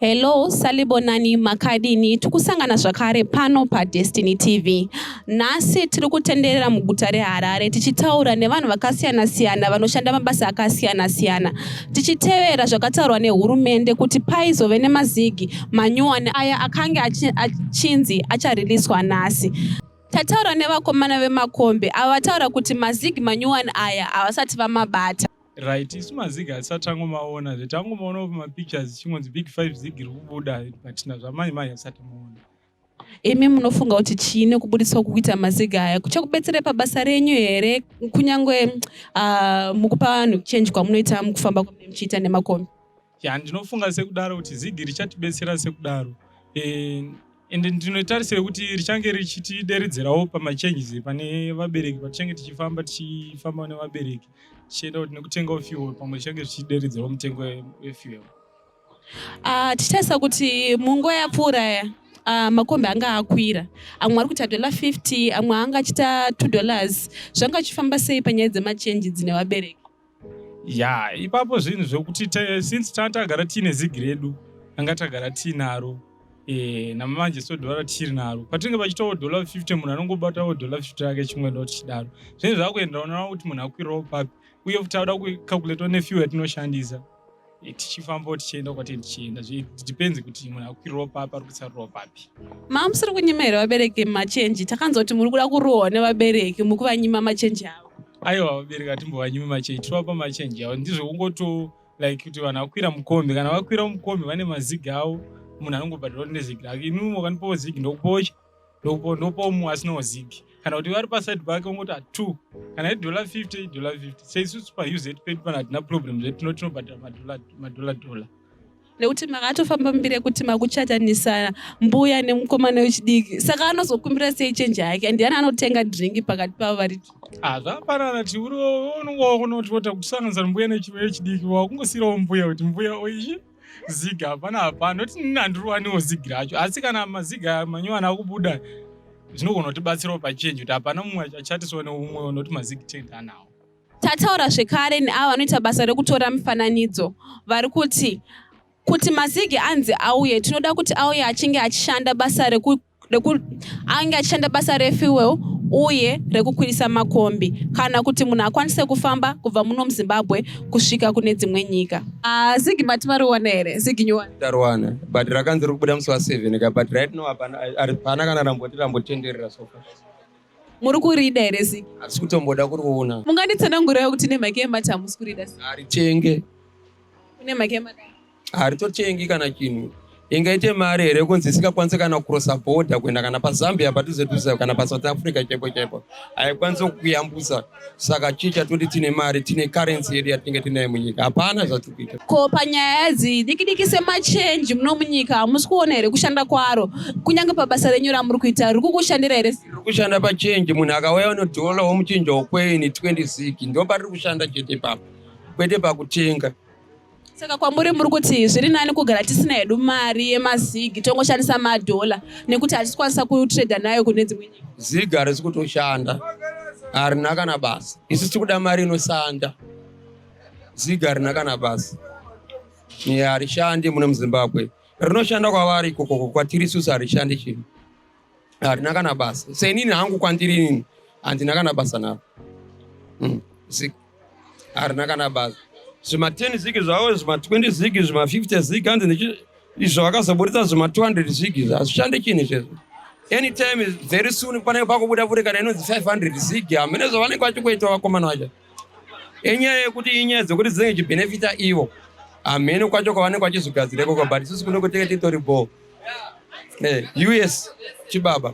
Hello salibonani makadini tikusangana zvakare pano padestiny tv nhasi tiri kutenderera muguta reharare tichitaura nevanhu vakasiyana siyana vanoshanda mabasa akasiyana siyana tichitevera zvakataurwa nehurumende kuti paizove nemazigi manyuwani aya akange achinzi achariliswa nhasi tataura nevakomana vemakombe ava vataura kuti mazigi manyuwani aya havasati vamabata right isu mazigi hatisati tangomaona zve tangomaona mapictures chingonzi big five zigi riri kubuda but nazvamai mai hasati maona Imi munofunga kuti chii nekubuditswa kukuita maziga aya kuchakubetserai pabasa renyu here kunyange uh, mukupa vanhu change kwamunoita mukufamba kwamunenge muchiita nemakombi ya ndinofunga sekudaro kuti zigi richatibetsera sekudaro e, ende ndinotarisira kuti richange richitideredzerawo pamachanges pane vabereki patichange tichifamba tichifamba nevabereki tichienda kuti nekutengawo fuel pamwe tichange tichideredzerawo mutengo wefuel Ah, tichitarisa kuti munguva yapfuura ya ah, makombi anga akwira amwe ari kuita dollar 50 amwe anga achiita 2 dollars zvanga achifamba sei panyaya dzemachenji dzine vabereki ya ipapo zvinhu zvekuti ta- since tanga tagara tiine zigi redu tanga tagara tiinaro e, namanje so dollar tiri naro patinenge pachitawo dollar 50 munhu anongobatawo dollar 50 rake chimwe ndo tichidaro zvinhu zvakuenderana kuti munhu akwirawo papi uye futi auda kucalculatewa nefuel yatinoshandisa Eh, tichifambawo tichienda kwati tichienda zvdepends kuti munhu akukwirirawo papi ari kutsarirawo papi maa musiri kunyima here vabereki machenji takanzwa kuti muri kuda kurohwa nevabereki mukuvanyima machenji avo aiwa vabereki atimbovanyimi machenji tinovapa machenji avo ndizvo kungoto like kuti vanhu vakwira mukombi kana vakwira mukombi vane mazigi avo munhu anongobhadhirawo nezigi rake inimo kanipowo zigi ndokupocha ndopo ndopo mu asina wazigi kana kuti vari paside pake ungoti atu kana idollar 50 idollar 50 seisusu pauz pedi pano hatina problem zvedu tino tinobhadhara madollar dollar nekuti makatofamba mbiri yekuti makuchatanisa mbuya nemukomana wechidiki saka anozokumbira sei chenji yake ndiani anotenga dringi pakati pavo vari ah, zvaparana tiuriwo unongowa kunoti vota kusanganisa mbuya nechimwe yechidiki wakungosiyirawo mbuya kuti mbuya oichi ziga hapana hapana noti nini handiruwaniwo zigi racho asi kana maziga manyowani akubuda zvinogona kutibatsirawo pachenji kuti hapana mumwe achatiswa neumwe noti mazigi tenda anawo tataura zvekare neavo vanoita basa rekutora mifananidzo vari kuti kuti mazigi anzi auye tinoda kuti auye achinge achishanda basa rekuti ange achishanda basa refuel uye rekukwirisa makombi kana kuti munhu akwanise kufamba kubva muno muzimbabwe kusvika kune dzimwe nyika ah, zigi mati mariwana here zigi nyuwa tariwana but rakanzi ri kubuda musi wa seven ka but right now hapana kana ramboti rambotenderera sofa muri kurida here zigi hatisi kutomboda kuriona munganditsanangurira kuti nemhaka yemati hamusi kurida haritenge kune mhaka yemati haritotengi kana chinhu ingaite mari here kunzi isingakwanise kana kurosa bhodha kuenda kana pazambia padhuze dhuze kana pasouth africa chaipo chaipo haikwanisi kukuyambutsa saka chii chatoti tine mari tine karensi yedu yatinenge tinayo munyika hapana zvatiri kuita ko panyaya dzi diki diki semachenji muno munyika hamusi kuona here kushanda kwaro kunyange pabasa renyu ramuri kuita riri kukushandira here riri kushanda pachenji munhu akauya unodhola womuchinja wokweni 26 ndo patiri kushanda chete papa kwete pakutenga saka kwamuri muri kuti zviri nani kugara tisina hedu mari yemazigi tongoshandisa madhola nekuti hatisikwanisa kutrader nayo kune dzimwe nyika zigi harisi kutoshanda harina kana basa isu tiri kuda mari inoshanda zigi harina kana basa harishandi mune muzimbabwe rinoshanda kwavari ikokoko kwatiri isusu harishandi chinhu harina kana basa seinini hangu kwandiri inini handina kana basa naro mm, zig harina kana basa zvima 10 zig zvavo zvima 20 zig zvima 50 zig hanzi ndichi izvo vakazoburitsa zvima 200 zig izvo hazvishande chini izvezvo anytime very soon panenge pakubuda futi kana inonzi 500 zig hamene zvavanenge vachikuita vakomana vacho Inyaya yekuti inyaya dzekuti dzinenge chibenefita ivo hamheno kwacho kwavanenge vachizvigadzira ikoko but isusu kuno kutenge titori bho eh, us chibaba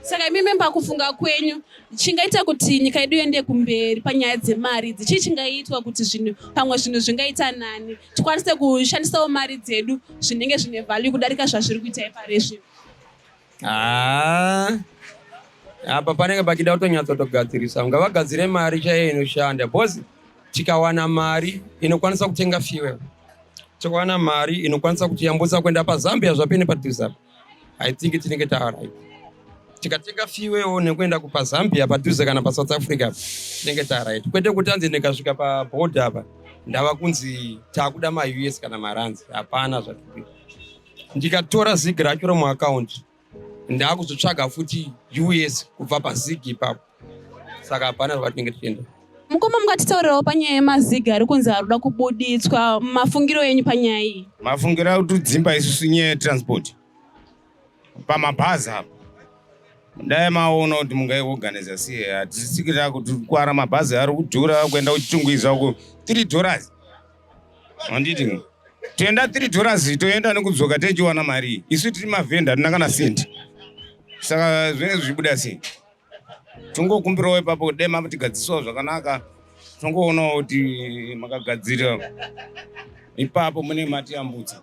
saka imi memba kufunga kwenyu chingaita kuti nyika yedu iende kumberi panyaya dzemari idzi chii chingaitwa kuti zvinhu pamwe zvinhu zvingaita nani tikwanise kushandisawo mari dzedu zvinenge zvine value kudarika zvazviri kuita iparizvi Haa apa panenge pachida kutonyatsotogadzirisa unga vagadzire mari chaiyo inoshanda bcause tikawana mari inokwanisa kutenga fuel tikawana mari inokwanisa kutiyambutsa kuenda pazambia zvapene padhuze apa i think tinenge taarit tikatenga fuel nekuenda kupazambia padhuze kana pasouth africa tinenge taarit kwete kuti anzi ndikasvika paboard apa ndava kunzi taakuda maus kana maranzi hapana zvatikuita ndikatora zig racho remuakaunti ndaakuzotsvaga futi us kubva pazig ipapo saka hapana zvatinenge tichienda mukoma mungatitaurirawo panyaya yemaziga ari kunzi ari kuda kubuditswa mafungiro enyu panyaya iyi mafungiro akuti dzimba isusu nyaya yetransport pamabhazi apo dai maona kuti mungaiorganiza sei hatisikira kuti kwara mabhazi ari kudhura kuenda kuchitungwiza uko tiri dollars handiti toenda 3 dollars toenda nekudzoka techiwana mari isu tiri mavhenda hatina kana senti saka zvinenge zvichibuda sei tongokumbirawo ipapo dai matigadzisawo zvakanaka tongoonawo kuti makagadzira ipapo mune matiyambutsa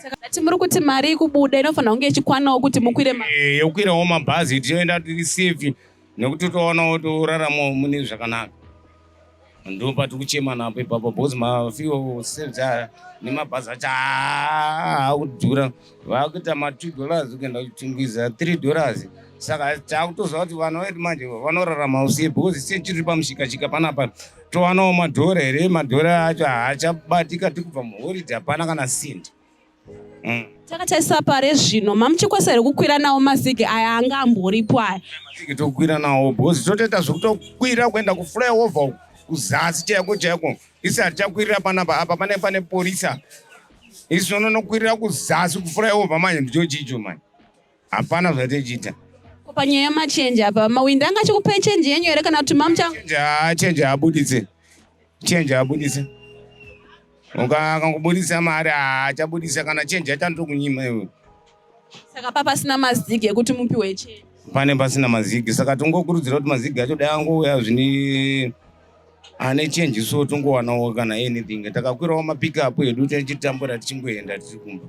saka ndati muri kuti mari ikubuda inofanira kunge ichikwanawo kuti mukwire eh, yokwirawo mabhazi tichienda tiri safe nekuti utoona kuti uraramo mune zvakanaka ndo pati kuchema napo ipapo because mafiwo sevza nemabhazi acho akudhura vakuita matwo dollars kuenda kuchingwiza three dollars saka takutoziva kuti vana vedu manje vanorarama usiye because sie chiri pamushikashika panapa towanawo madhora here madhora acho haachabatika tikubva muhoride hapana kana sindi Mm. takatarisa pare zvino mamuchikwesa here kukwira nawo mazigi aya anga amboripo aya mazigi tokwira nawo bhozi totoita zvekutokwira kuenda kuflyover kuzasi chaiko chaiko isi hatichakwirira panapa apa pane pane porisa isi unonokwirira kuzasi kuflyover manje ndicho chicho manje hapana zvatichita Ko panyaya yamachenji apa mawindi anga achikupai chenji yenyu here kana kuti mamucha Change ha- change haabuditse change haabuditse Uka- akangobuditsa mari haachabuditsa kana change yachandokunyima iwe saka pa pasina mazigi ekuti mupiwe chenji pane pasina mazigi saka tingokurudzira kuti mazigi acho dai angouya zvine ane change so tongowanawo kana anything takakwirawo mapickup edu tichitambura tichingoenda tiri kumba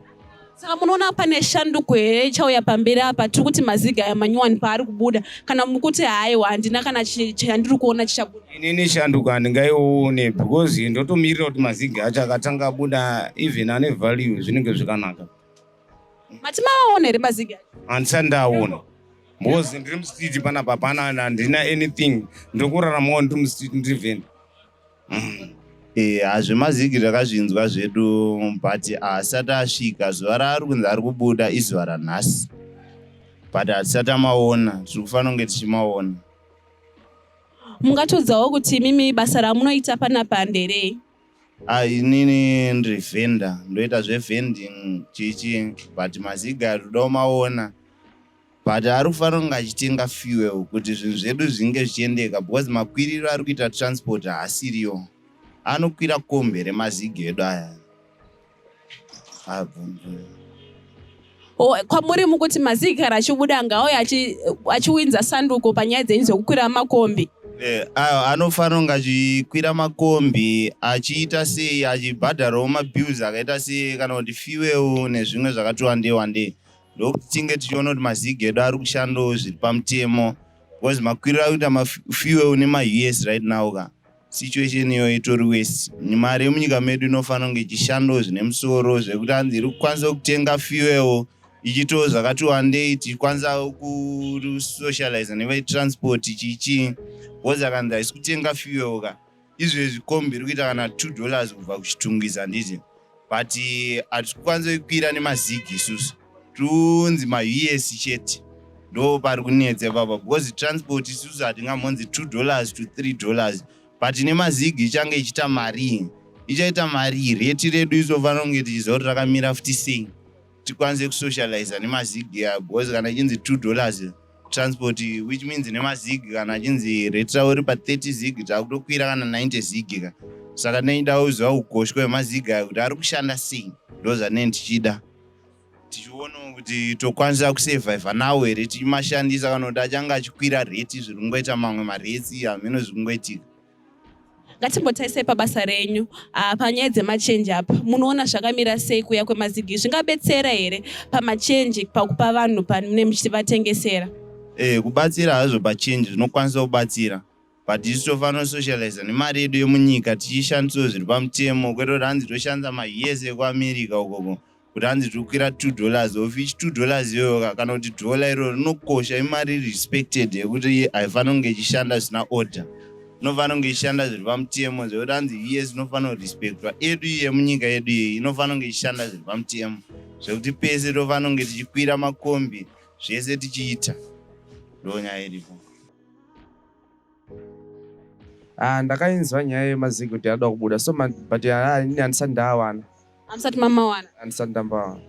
saka munoona pane shanduko here ichauya pamberi apa tiri kuti maziga aya manyowani paari kubuda kana mukuti haiwa handina kana chandiri kuona chichabuda inini shanduko handingaione because ndotomirira kuti maziga acho akatanga abuda even ane value zvinenge zvakanaka Mati mawaona here mazigi acho? Handisati ndaona. Because ndiri mustreet panapa hapana handina anything. Ndiri kuraramawo ndiri mustreet ndiri vheni. Mm. Eh, hazvemazigi takazvinzwa zvedu but haasati asvika zuva raari kunzi ari kubuda izuva ranhasi but hatisati amaona tiri kufanira kunge tichimaona mungatiudzawo kuti mimi basa ramunoita panapa nderei Ah, inini ndiri vendor ndoita zvevending chichi but maziga todawo maona but ari kufanira kunge achitenga fuel kuti zvinhu zvedu zvinge zvichiendeka because makwiriro ari kuita transport haasiriyo anokwira kombi remaziga edu aya Oh, kwamuri mukuti mazikara achibuda ngaauya achiwinza sanduko panyaya dzenyu dzekukwira makombi eh, anofanira kunge achikwira makombi achiita sei achibhadharawo mabills akaita sei kana kuti fiweu nezvimwe zvakati wandei wandei ndokuti tinge tichiona kuti mazig edu ari kushandawo zviri pamutemo because makwiriro akuita mafiweu nemaus right now ka situation iyoyo itori wesi mari yemunyika medu inofanira kunge ichishandawo zvine musoro zvekuti anzi iri kukwanisa kutenga fuel ichitawo zvakati wandei tichikwanisa kusocializa nevetransport chichii bcause akanzi haisi kutenga fuel ka izvezvi kombi iri kuita kana two dollars kubva kuchitungwiza handiti but eh, hatisi kukwanisa kukwira nemazigi isusu tunzi maus chete ndo pari kunetsa ipapa because transport isusu hatingamhonzi two dollars to three dollars but nemazigi ichange ichiita marii ichaita marii reti redu isofanira kunge tichiziva kuti rakamira futi sei tikwanise kusocializa nemazigi aya because kana ichinzi two dollars transport which means nemazigi kana achinzi retra uri pa 30 zigi taakutokwira kana 90 zigi ka saka ndaida kuziva ukoshwa hwemazigi aya kuti ari kushanda sei ndo zvanei ndichida tichionawo kuti tokwanisa kusurviva nawo here tichimashandisa kana kuti achange achikwira reti zviri kungoita mamwe maretsi hameno zviri kungoitika ngatimbotarisai pabasa renyu ah, panyaya dzemachenji apa munoona zvakamira sei kuya kwemazigi zvingabetsera here pamachenji pakupa vanhu pane muchitivatengesera e, eh, kubatsira hazvo pachenji zvinokwanisa kubatsira but isu tofanira kusocializa nemari yedu yemunyika tichishandisawo zviri pamutemo kwete kuti hanzi toshandisa mahiese ekuamerica ukoko kuti hanzi tiri kukwira two dollars of ichi two dollars iyoyoka kana kuti dhola iroro rinokosha imari iri respected yekuti haifanira kunge ichishanda zvisina order inofanira kunge ichishanda zviri pamutemo zvekuti hanzi yes inofanira kurespectwa edu iye munyika yedu iyeyi inofanira kunge ichishanda zviri pamutemo zvekuti pese tofanira kunge tichikwira makombi zvese tichiita ndonyaya iripo Ah, ndakainzwa nyaya yemazigi kuti anoda kubuda so ma- but ah, ini handisati ndaawana hamusati mamawana handisati ndambawana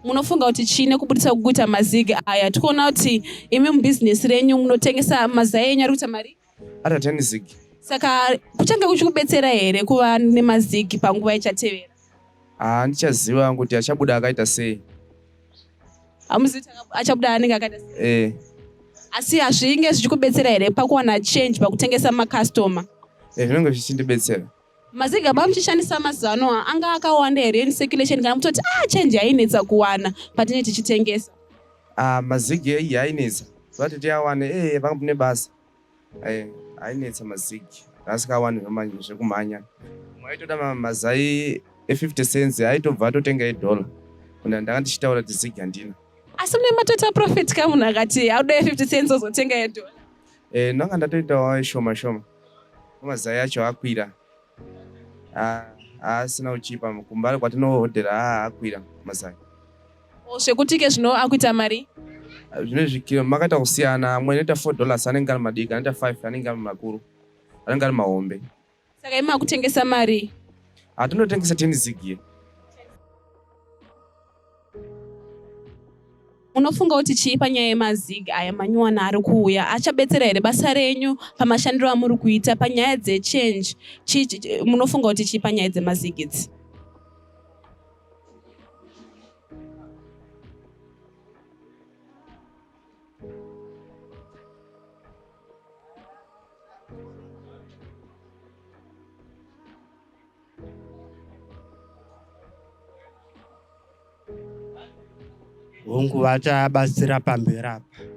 munofunga kuti chii nekubudisa kukuita mazigi aya tikuona kuti imi mubhizinesi renyu munotengesa mazai enyu ari kuita mari ari atani zigi saka kuchange kuchikubetsera here kuva nemazigi panguva ichatevera Ah, handichaziva kuti achabuda akaita sei hamuzivi chaka- achabuda anenge akaita sei? eh, asi hazvinge zvichikubetsera here pakuwana change pakutengesa makastoma eh, zvinenge zvichindibetsera maziga baba muchishandisa mazuva ano aya, anga akawanda here in circulation kana kutoti ah change yainetsa kuwana patinenge tichitengesa ah, mazigi iyi ainetsa vati tiawane eh, vane basa eh, ainetsa mazigi asikawani zvekumhanya maitoda mazai e50 cents aitobva atotenga edollar kuna ndanga ndichitaura kuti zigi handina asi mune matota profit ka munhu akati auda e50 cents ozotenga edollar eh, ndanga ndatoitawo shoma shoma mazai acho akwira Ah, haasina uchipa kumbare kwatinohodhera ah, akwira mazai zvekuti ke zvino akuita mari zvine zvikiro makaita kusiyana amwe anoita four dollars anenge ari madiki anoita five anenge ari makuru anenge ari mahombe saka imi makutengesa mari hatinotengesa ah, tenizigie Unofunga kuti chii panyaya yemazig aya manyuwana ari kuuya achabetsera here basa renyu pamashandiro amuri kuita panyaya dzechange munofunga kuti chii panyaya dzemazig idzi hongu vachabatsira pamberi apa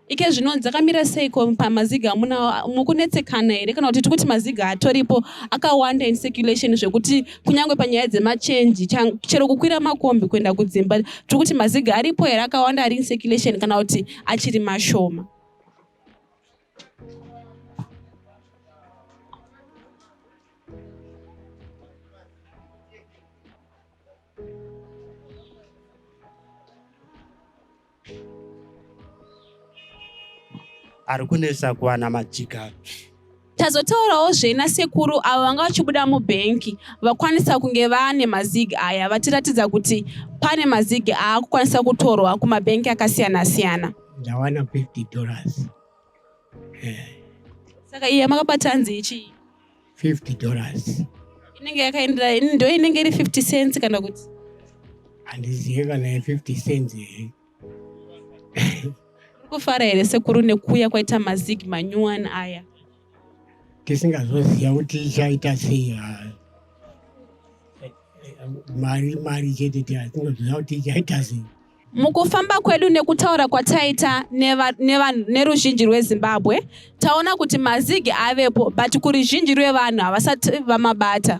ike zvino dzakamira seiko pamaziga amuna mukunetsekana here kana kuti tiri kuti maziga atoripo akawanda in circulation zvekuti kunyange panyaya dzemachenji chero kukwira makombi kuenda kudzimba tiri kuti maziga aripo here akawanda ari in circulation kana kuti achiri mashoma ari kunetsa kuwana majika tazotaurawo zvena sekuru avo vanga vachibuda mubhenki vakwanisa kunge vaane mazig aya vatiratidza kuti pane mazig aakukwanisa kutorwa kumabhenki akasiyana siyana ndawana 50 dollars eh. saka iyi yamakabata hanzi ichii 50 dollars inenge yakaendera ndo inenge iri 50 cents kana kuti handizive kana ye 50 cents here kufara here sekuru nekuuya kwaita mazig manyuwani aya tisingazoziva kuti ichaita sei ah. mari mari chete tiatingazoziva kuti ichaita sei Mukufamba kwedu nekutaura kwataita neruzhinji rweZimbabwe, taona kuti mazigi avepo but kuruzhinji rwevanhu havasati vamabata.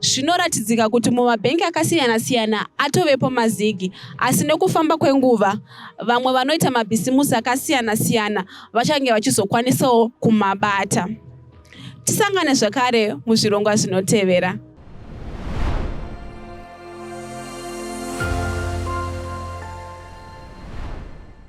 Zvinoratidzika kuti mumabhengi akasiyana-siyana atovepo mazigi, asi nekufamba kwenguva vamwe vanoita mabhisimusi akasiyana-siyana vachange vachizokwanisawo kumabata. Tisangane zvakare muzvirongwa zvinotevera.